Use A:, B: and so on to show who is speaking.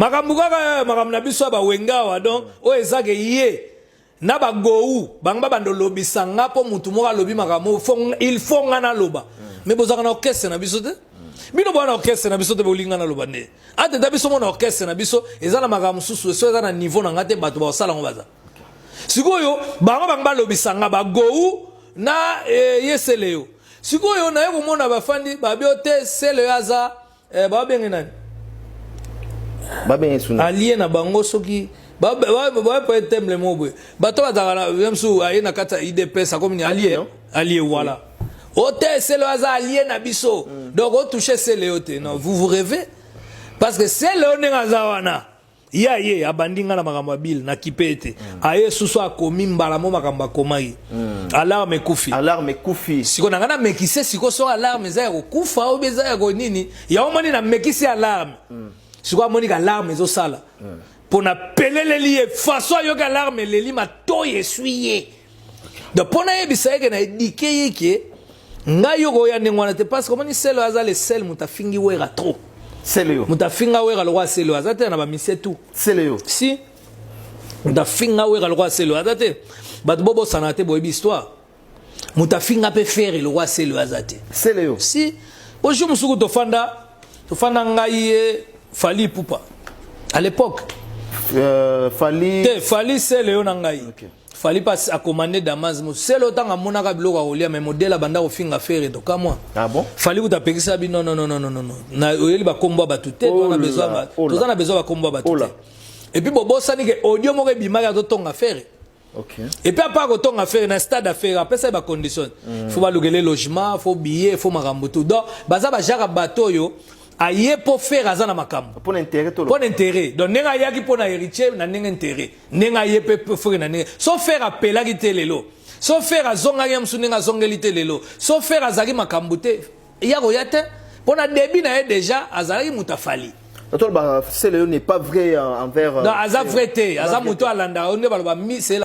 A: makambo kaka eh, makambo na biso ya bawengawa donc oyo ezake ye na bagou bango babanda olobisa nga mpo motu moko alobi makambo il faut nga naloba me bozalaka na orkestre na biso te bino boa na orkestre na biso te bolinga naloba nde ateta biso mona orkestre na biso eza na makambo mosusu eso eza na niveau na nga te bato baosala yango baza sikoyo bango bango balobisa nga bagou na eh, ye seleyo sikoyo naye komona bafandi babio te seleyo aza eh, babenge nani babenge
B: suna alie na bango soki
A: bapoye temble moko boye bato bazalaka na msu aye na kati ya idps akomi ni alie alie wala o te selo aza alie na biso mm. donc otouche sele yo te non vous vous revez parce que sele yo ndenge aza wana ye aye abandi ngai na makambo ya bile nakipe ete mm. aye susu akomi mbala mo makambo akomaki mm. alarme ekufi alarme ekufi siko na ngai namekise siko so alarme eza ya kokufa oyo eza ya konini yango moni namekisi alarme mm. siko amoniki alarme ezosala mpo napeleleli ye faso ayoki alarme eleli matoi eswi ye donc mpo nayebisa yeke na edike yeke ngai yo koya ndenge wana te parce que omoni selo aza le sel moto afingi wera trop selo yo moto
B: afinga wera lokola
A: selo aza te na bamise tu selo yo si moto afinga wera lokola selo aza te bato bobosana te boyebi histoire moto afinga mpe fere lokola selo aza te selo yo si
B: po
A: jour mosuku tofanda tofanda ngai ye fali pupa à l'époque euh, fali te fali selo yo na ngai okay. Fali pas
B: a
A: commandé Damas Moselo tanga monaka biloko ya kolia mais modela banda kofinga fere to kamwa. Ah bon? Fali kuta
B: pekisa bi
A: non non non non non non. Na oyeli ba kombo ba tute to na besoin ba to na besoin ba kombo ba tute. Et puis bobosani ke audio moko ebimaki azo tonga fere. Okay. Et puis
B: apart kotonga
A: fere na stade ya fere apesa ye ba conditions. Mm. Faut balukele logement, faut billet, faut makambo tout. Donc baza ba jaka bato yo aye po fere aza na makambo. Pona intérêt to. Pona
B: intérêt. Donc
A: nenga yaki pona héritier na nenga intérêt. ndenge aye mpe frere na ndenge so frere apelaki te lelo so frere azongaki ya mosusu ndenge azongeli te lelo so frere azalaki makambo te ya koya te mpo na debi na ye deja azalaki moto afali tolobaka sele yo
B: n'est
A: pas vrai
B: envers
A: aza
B: vrai
A: te aza moto alandaka yo nde baloba misela